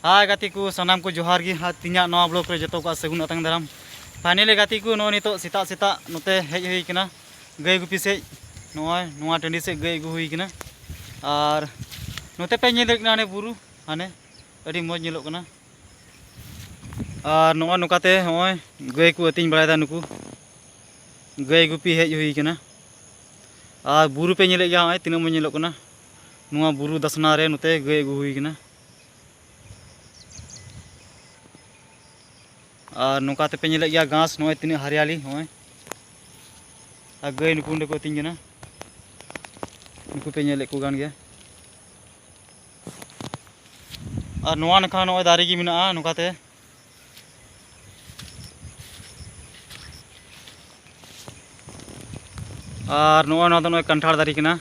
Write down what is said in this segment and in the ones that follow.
ᱦᱟᱭ ᱜᱟᱛᱮ ᱠᱚ ᱥᱟᱱᱟᱢ ᱠᱚ ᱡᱚᱦᱟᱨ ᱜᱮ ᱟᱨ ᱛᱤᱧᱟᱹᱜ ᱱᱚᱣᱟ ᱵᱞᱚᱜ ᱨᱮ ᱡᱚᱛᱚ ᱠᱚᱣᱟᱜ ᱥᱟᱹᱜᱩᱱ ᱟᱛᱟᱝ ᱫᱟᱨᱟᱢ ᱯᱷᱟᱭᱱᱟᱞᱤ ᱜᱟᱛᱮ ᱠᱚ ᱱᱚᱜᱼᱚᱭ ᱱᱤᱛᱚᱜ ᱥᱮᱛᱟᱜ ᱥᱮᱛᱟᱜ ᱱᱚᱛᱮ ᱦᱮᱡ ᱦᱩᱭ ᱠᱟᱱᱟ ᱜᱟᱹᱭ ᱜᱩᱯᱤ ᱥᱮᱡ ᱱᱚᱜᱼᱚᱭ ᱱᱚᱣᱟ ᱴᱟᱺᱰᱤ ᱥᱮᱡ ᱜᱟᱹᱭ ᱟᱹᱜᱩ ᱦᱩᱭ ᱠᱟᱱᱟ ᱟᱨ ᱱᱚᱛᱮ ᱯᱮ ᱧᱮᱞ ᱫᱟᱲᱮᱭᱟᱜ ᱠᱟᱱᱟ ᱦᱟᱱᱮ ᱵᱩᱨᱩ ᱦᱟᱱᱮ ᱟᱹᱰᱤ ᱢᱚᱡᱽ ᱧᱮᱞᱚᱜ ᱠᱟᱱᱟ ᱟᱨ ᱱᱚᱜᱼᱚᱭ ᱱᱚᱝᱠᱟᱛᱮ ᱱᱚᱜᱼᱚᱭ ᱜᱟᱹᱭ ᱠᱚ ᱟᱹᱛᱤᱧ ᱵᱟᱲᱟᱭᱮᱫᱟ ᱱᱩᱠᱩ ᱜᱟᱹᱭ ᱜᱩᱯᱤ ᱦᱮᱡ ᱦᱩᱭ ᱠᱟᱱᱟ ᱟᱨ ᱵᱩᱨᱩ ᱯᱮ ᱧᱮᱞᱮᱫ ᱜᱮᱭᱟ ᱱᱚᱜᱼᱚᱭ ᱛᱤᱱᱟᱹᱜ ᱢᱚᱡᱽ ᱧᱮᱞᱚᱜ ᱠᱟᱱᱟ ᱱᱚᱣᱟ ᱵᱩᱨᱩ ᱫᱟᱥᱱᱟ ᱨᱮ ᱱᱚᱛᱮ ᱜᱟᱹᱭ ᱟᱹᱜᱩ ᱦᱩᱭ ᱠᱟᱱᱟ ᱟᱨ ᱱᱚᱝᱠᱟ ᱛᱮᱯᱮ ᱧᱮᱞᱮᱫ ᱜᱮᱭᱟ ᱜᱷᱟᱥ ᱱᱚᱜᱼᱚᱭ ᱛᱤᱱᱟᱹᱜ ᱦᱟᱨᱤᱭᱟᱞᱤ ᱱᱚᱜᱼᱚᱭ ᱟᱨ ᱜᱟᱹᱭ ᱱᱩᱠᱩ ᱚᱸᱰᱮ ᱠᱚ ᱟᱹᱛᱤᱧ ᱠᱟᱱᱟ ᱱᱩᱠᱩ ᱯᱮ ᱧᱮᱞᱮᱫ ᱠᱚ ᱠᱟᱱ ᱜᱮᱭᱟ ᱟᱨ ᱱᱚᱣᱟ ᱱᱟᱠᱷᱟ ᱱᱚᱜᱼᱚᱭ ᱫᱟᱨᱮ ᱜᱮ ᱢᱮᱱᱟᱜᱼᱟ ᱱᱚᱝᱠᱟᱛᱮ ᱟᱨ ᱱᱚᱜᱼᱚᱭ ᱱᱚᱣᱟ ᱫᱚ ᱱᱚᱜᱼᱚᱭ ᱠᱟᱱᱴᱷᱟᱲ ᱫᱟᱨᱮ ᱠᱟᱱᱟ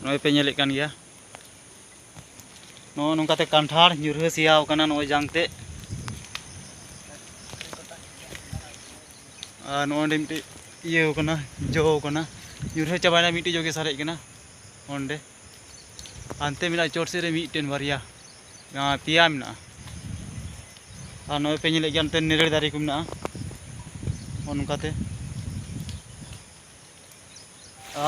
ᱱᱚᱜᱼᱚᱭ ᱯᱮ ᱧᱮᱞᱮᱫ ᱠᱟᱱ ᱜᱮᱭᱟ ᱱᱚᱜᱼᱚ ᱱᱚᱝᱠᱟᱛᱮ ᱠᱟᱱᱴᱷᱟᱲ ᱧᱩᱨᱦᱟᱹ ᱥᱮᱭᱟᱣ ᱠᱟᱱᱟ ᱱᱚᱜᱼᱚᱭ ᱡᱟᱝ ᱛᱮ ᱟᱨ ᱱᱚᱜᱼᱚᱭ ᱢᱤᱫᱴᱤᱡ ᱤᱭᱟᱹ ᱠᱟᱱᱟ ᱡᱚ ᱠᱟᱱᱟ ᱧᱩᱨᱦᱟᱹ ᱪᱟᱵᱟᱭᱮᱱᱟ ᱢᱤᱫᱴᱤᱡ ᱡᱚᱜᱮ ᱥᱟᱨᱮᱡ ᱠᱟᱱᱟ ᱚᱸᱰᱮ ᱦᱟᱱᱛᱮ ᱢᱮᱱᱟᱜᱼᱟ ᱪᱚᱴ ᱥᱮᱫ ᱨᱮ ᱢᱤᱫᱴᱮᱱ ᱵᱟᱨᱭᱟ ᱯᱮᱭᱟ ᱢᱮᱱᱟᱜᱼᱟ ᱟᱨ ᱱᱚᱜᱼᱚᱭ ᱯᱮ ᱧᱮᱞᱮᱫ ᱜᱮᱭᱟ ᱱᱚᱛᱮ ᱱᱤᱨᱟᱹᱲ ᱫᱟᱨᱮ ᱠᱚ ᱢᱮᱱᱟᱜᱼᱟ ᱚᱱᱠᱟᱛᱮ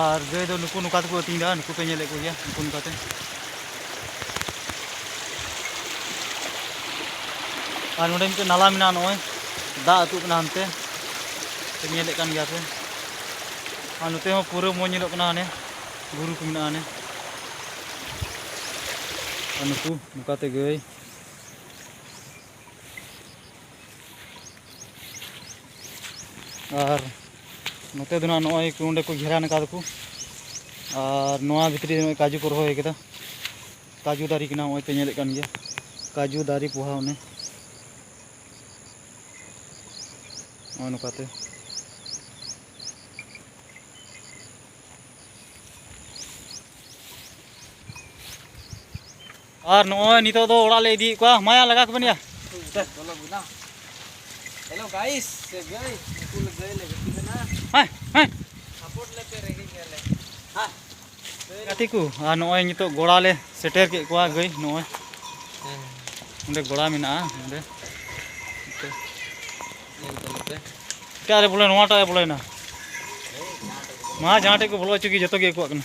ᱟᱨ ᱜᱟᱹᱭ ᱫᱚ ᱱᱩᱠᱩ ᱱᱚᱝᱠᱟ ᱛᱮᱠᱚ ᱟᱹᱛᱤᱧ ᱮᱫᱟ ᱱᱩᱠᱩ ᱯᱮ ᱧᱮᱞᱮᱫ ᱠᱚᱜᱮᱭᱟ ᱱᱩᱠᱩ ᱱᱚᱝᱠᱟᱛᱮ ᱟᱨ ᱱᱚᱰᱮ ᱢᱤᱫᱴᱮᱱ ᱱᱟᱞᱟ ᱢᱮᱱᱟᱜᱼᱟ ᱱᱚᱜᱼᱚᱭ ᱫᱟᱜ ᱟᱹᱛᱩᱜ ᱠᱟᱱᱟ ᱦᱟᱱᱛᱮ ᱯᱮ ᱧᱮᱞᱮᱫ ᱠᱟᱱ ᱜᱮᱭᱟ ᱯᱮ ᱟᱨ ᱱᱚᱛᱮ ᱦᱚᱸ ᱯᱩᱨᱟᱹ ᱢᱚᱡᱽ ᱧᱮᱞᱚᱜ ᱠᱟᱱᱟ ᱦᱟᱱᱮ ᱵᱩᱨᱩ ᱠᱚ ᱢᱮᱱᱟᱜᱼᱟ ᱦᱟᱱᱮ ᱟᱨ ᱱᱩᱠᱩ ᱱᱚᱝᱠᱟᱛᱮ ᱜᱟᱹᱭ ᱟᱨ ᱱᱚᱛᱮ ᱫᱚ ᱱᱟᱦᱟᱜ ᱱᱚᱜᱼᱚᱭ ᱠᱚ ᱱᱚᱸᱰᱮ ᱠᱚ ᱜᱷᱮᱨᱟᱱ ᱟᱠᱟᱫᱟ ᱠᱚ ᱟᱨ ᱱᱚᱣᱟ ᱵᱷᱤᱛᱨᱤ ᱨᱮ ᱠᱟᱡᱩ ᱠᱚ ᱨᱚᱦᱚᱭ ᱟᱠᱟᱫᱟ ᱠᱟᱡᱩ ᱫᱟᱨᱮ ᱠᱟᱱᱟ ᱱᱚᱜᱼᱚᱭ ᱯᱮ ᱧᱮᱞᱮᱫ ᱠᱟᱱ ᱜᱮᱭᱟ ᱠᱟᱡᱩ ᱫᱟᱨᱮ ᱯᱚᱦᱟ ᱚᱱᱮ ᱱᱚᱜᱼᱚ ᱱᱚᱝᱠᱟᱛᱮ ᱟᱨ ᱱᱚᱜᱼᱚᱭ ᱱᱤᱛᱚᱜ ᱫᱚ ᱚᱲᱟᱜ ᱞᱮ ᱤᱫᱤᱭᱮᱫ ᱠᱚᱣᱟ ᱢᱟᱭᱟ ᱞᱟᱜᱟ ᱠᱚᱵᱮᱱ ᱭᱟ ᱦᱮᱞᱳ ᱜᱟᱭᱤᱥ ᱥᱮ ᱜᱟᱹᱭ ᱩᱱᱠᱩ ᱞᱮ ᱜᱟᱹᱭ ᱞᱮ ᱜᱟᱛᱮ ᱠᱟᱱᱟ ᱦᱮᱸ ᱦᱮᱸ ᱥᱟᱯᱳᱨᱴ ᱞᱮ ᱯᱮ ᱨᱮᱸᱜᱮᱡ ᱜᱮᱭᱟᱞᱮ ᱦᱮᱸ ᱜᱟᱛᱮ ᱠᱚ ᱟᱨ ᱱᱚᱜᱼᱚᱭ ᱱᱤᱛᱚᱜ ᱜᱚᱲᱟ ᱞᱮ ᱥᱮᱴᱮᱨ ᱠᱮᱫ ᱠᱚᱣᱟ ᱜᱟᱹᱭ ᱱᱚᱜᱼᱚᱭ ᱚᱸᱰᱮ ᱜᱚᱲᱟ ᱢᱮᱱᱟᱜᱼᱟ ᱚᱸᱰᱮ ᱮᱴᱟᱜ ᱨᱮ ᱵᱚᱞᱮ ᱱᱚᱣᱟᱴᱟᱜ ᱨᱮ ᱵᱚᱞᱮᱱᱟ ᱢᱟ ᱡᱟᱦᱟᱸ ᱴᱷᱮᱡ ᱠᱚ ᱵᱚᱞᱚ ᱦᱚᱪᱚ ᱜᱮ ᱡᱚᱛᱚ ᱜᱮ ᱟᱠᱚᱣᱟᱜ ᱠᱟᱱᱟ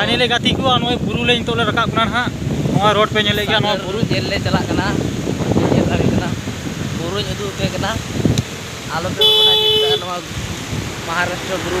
ᱯᱷᱟᱭᱱᱮᱞᱤ ᱜᱟᱛᱮ ᱠᱚ ᱱᱚᱜᱼᱚᱭ ᱵᱩᱨᱩ ᱞᱮ ᱱᱤᱛᱚᱜ ᱞᱮ ᱨᱟᱠᱟᱵ ᱠᱟᱱᱟ ᱱᱟᱦᱟᱜ ᱱᱚᱣᱟ ᱨᱳᱰ ᱯᱮ ᱧᱮᱞᱮᱫ ᱜᱮᱭᱟ ᱱᱚᱣᱟ ᱵᱩᱨᱩ ᱧᱮᱞ ᱞᱮ ᱪᱟᱞᱟᱜ ᱠᱟᱱᱟ ᱧᱮᱞ ᱫᱟᱲᱮᱭᱟᱜ ᱠᱟᱱᱟ ᱵᱩᱨᱩᱧ ᱩᱫᱩᱜ ᱟᱯᱮ ᱠᱟᱱᱟ ᱟᱞᱚ ᱯᱮ ᱢᱚᱱᱮᱭᱟ ᱱᱚᱣᱟ ᱢᱚᱦᱟᱨᱟᱥᱴᱨᱚ ᱵᱩᱨᱩ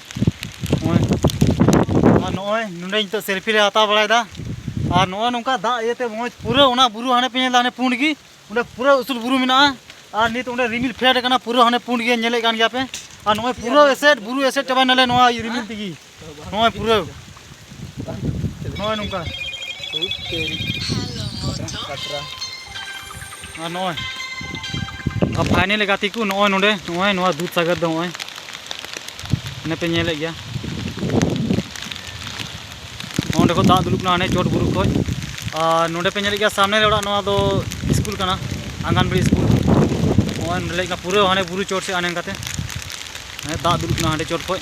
ᱟᱨ ᱱᱚᱜᱼᱚᱭ ᱱᱚᱰᱮ ᱱᱤᱛᱚᱜ ᱥᱮᱞᱯᱷᱤ ᱞᱮ ᱦᱟᱛᱟᱣ ᱵᱟᱲᱟᱭᱮᱫᱟ ᱟᱨ ᱱᱚᱜᱼᱚᱭ ᱱᱚᱝᱠᱟ ᱫᱟᱜ ᱤᱭᱟᱹᱛᱮ ᱢᱚᱡᱽ ᱯᱩᱨᱟᱹ ᱚᱱᱟ ᱵᱩᱨᱩ ᱦᱟᱱᱮ ᱯᱮ ᱧᱮᱞᱫᱟ ᱦᱟᱱᱮ ᱯᱩᱸᱰ ᱜᱮ ᱚᱸᱰᱮ ᱯᱩᱨᱟᱹ ᱩᱥᱩᱞ ᱵᱩᱨᱩ ᱢᱮᱱᱟᱜᱼᱟ ᱟᱨ ᱱᱤᱛ ᱚᱸᱰᱮ ᱨᱤᱢᱤᱞ ᱯᱷᱮᱰ ᱟᱠᱟᱱᱟ ᱯᱩᱨᱟᱹ ᱦᱟᱱᱮ ᱯᱩᱸᱰ ᱜᱮ ᱧᱮᱞᱮᱫ ᱠᱟᱱ ᱜᱮᱭᱟ ᱯᱮ ᱟᱨ ᱱᱚᱜᱼᱚᱭ ᱯᱩᱨᱟᱹ ᱮᱥᱮᱫ ᱵᱩᱨᱩ ᱮᱥᱮᱫ ᱪᱟᱵᱟᱭᱱᱟᱞᱮ ᱱᱚᱣᱟ ᱨᱤᱢᱤᱞ ᱛᱮᱜᱮ ᱱᱚᱜᱼᱚᱭ ᱯᱩᱨᱟᱹ ᱱᱚᱜᱼᱚᱭ ᱱᱚᱝᱠᱟ ᱟᱨ ᱱᱚᱜᱼᱚᱭ ᱯᱷᱟᱭᱱᱮᱞ ᱜᱟᱛᱮ ᱠᱚ ᱱᱚᱜᱼᱚᱭ ᱱᱚᱰᱮ ᱱᱚᱜᱼᱚᱭ ᱱᱚᱣᱟ ᱫᱩᱫᱷ ᱥᱟᱜᱚᱨ ᱫᱚ ᱱᱚᱜᱼᱚᱭ ᱚᱱᱮ ᱯᱮ ᱧᱮᱞᱮᱫ ᱜᱮᱭᱟ ᱱᱚᱰᱮ ᱠᱚ ᱫᱟᱜ ᱫᱩᱞᱩᱜ ᱠᱟᱱᱟ ᱦᱟᱱᱮ ᱪᱚᱴ ᱵᱩᱨᱩ ᱠᱷᱚᱡ ᱟᱨ ᱱᱚᱰᱮ ᱯᱮ ᱧᱮᱞᱮᱫ ᱜᱮᱭᱟ ᱥᱟᱢᱱᱮ ᱨᱮ ᱚᱲᱟᱜ ᱱᱚᱣᱟ ᱫᱚ ᱥᱠᱩᱞ ᱠᱟᱱᱟ ᱟᱝᱜᱟᱱᱵᱟᱲᱤ ᱥᱠᱩᱞ ᱱᱚᱜᱼᱚᱭ ᱱᱚᱰᱮ ᱞᱮᱠᱟ ᱯᱩᱨᱟᱹ ᱦᱟᱱᱮ ᱵᱩᱨᱩ ᱪᱚᱴ ᱥᱮᱫ ᱦᱟᱱᱮ ᱠᱟᱛᱮ ᱦᱟᱱᱮ ᱫᱟᱜ ᱫᱩᱞᱩᱜ ᱠᱟᱱᱟ ᱦᱟᱸᱰᱮ ᱪᱚᱴ ᱠᱷᱚᱡ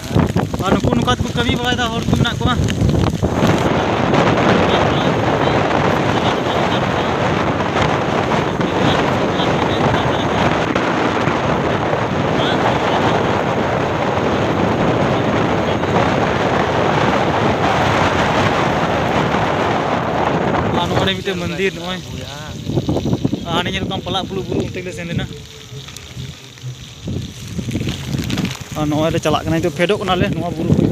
ᱟᱨ ᱱᱩᱠᱩ ᱱᱚᱝᱠᱟ ᱛᱮᱠᱚ ᱠᱟᱹᱢᱤ ᱵᱟᱲᱟᱭᱮᱫᱟ ᱦᱚᱲ ᱠᱚ ᱢᱮᱱᱟᱜ ᱠᱚᱣᱟ ᱟᱨ ᱱᱚᱜᱼᱚᱭ ᱢᱤᱫᱴᱮᱱ ᱢᱚᱱᱫᱤᱨ ᱱᱚᱜᱼᱚᱭ ᱟᱨ ᱧᱮᱞ ᱠᱚᱢ ᱯᱟᱞᱟᱜ ᱯᱩᱞᱩᱜ ᱵᱩᱨᱩ ᱚᱱᱛᱮ ᱜᱮᱞᱮ ᱥᱮᱱ ᱞᱮᱱᱟ ᱟᱨ ᱱᱚᱜᱼᱚᱭ ᱞᱮ ᱪᱟᱞᱟᱜ ᱠᱟᱱᱟ ᱱᱤᱛᱚᱜ ᱯᱷᱮᱰᱚᱜ ᱠᱟᱱᱟᱞᱮ ᱱᱚᱣᱟ ᱵᱩᱨᱩ ᱠᱷᱚᱡ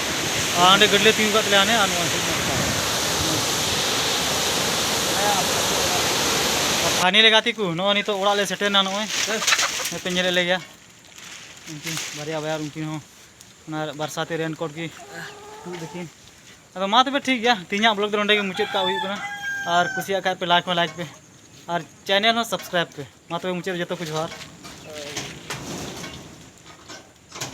ᱟᱸᱰᱮ ᱜᱟᱹᱰᱤ ᱞᱮ ᱛᱤᱸᱜᱩ ᱠᱟᱜ ᱛᱟᱞᱮᱭᱟ ᱦᱟᱱᱮ ᱟᱨ ᱱᱚᱣᱟ ᱥᱟᱭᱤᱰ ᱢᱟ ᱯᱷᱟᱸᱠᱟ ᱯᱷᱟᱭᱱᱮᱞ ᱜᱟᱛᱮ ᱠᱚ ᱱᱚᱜᱼᱚᱭ ᱱᱤᱛᱚᱜ ᱚᱲᱟᱜ ᱞᱮ ᱥᱮᱴᱮᱨᱱᱟ ᱱᱚᱜᱼᱚᱭ ᱱᱚᱛᱮ ᱧᱮᱞᱮᱫ ᱞᱮ ᱜᱮᱭᱟ ᱩᱱᱠᱤᱱ ᱵᱟᱨᱭᱟ ᱵᱟᱭᱟᱨ ᱩᱱᱠᱤᱱ ᱦᱚᱸ ᱚᱱᱟ ᱵᱟᱨᱥᱟᱛᱮ ᱨᱮᱱ ᱠᱳᱴ ᱜᱮ ᱛᱩᱫ ᱫᱟᱹᱠᱤᱱ ᱟᱫᱚ ᱢᱟ ᱛᱚᱵᱮ ᱴᱷᱤᱠ ᱜᱮᱭᱟ ᱛᱮᱦᱮᱧᱟᱜ ᱵᱞᱚᱜ ᱫᱚ ᱱᱚᱸᱰᱮ ᱜᱮ ᱢᱩᱪᱟᱹᱫ ᱠᱟᱜ ᱦᱩᱭᱩᱜ ᱠᱟᱱᱟ ᱟᱨ ᱠᱩᱥᱤᱭᱟᱜ ᱠᱷᱟᱡ ᱯᱮ ᱞᱟᱭᱤᱠ ᱦᱚᱸ ᱞᱟᱭᱤᱠ ᱯᱮ ᱟᱨ ᱪᱮᱱᱮᱞ ᱦᱚᱸ ᱥᱟᱵᱥᱠᱨᱟᱭᱤᱵ ᱯᱮ ᱢᱟ ᱛᱚᱵᱮ ᱢᱩᱪᱟᱹᱫ ᱨᱮ ᱡᱚᱛᱚ ᱠᱚ ᱡᱚᱦᱟᱨ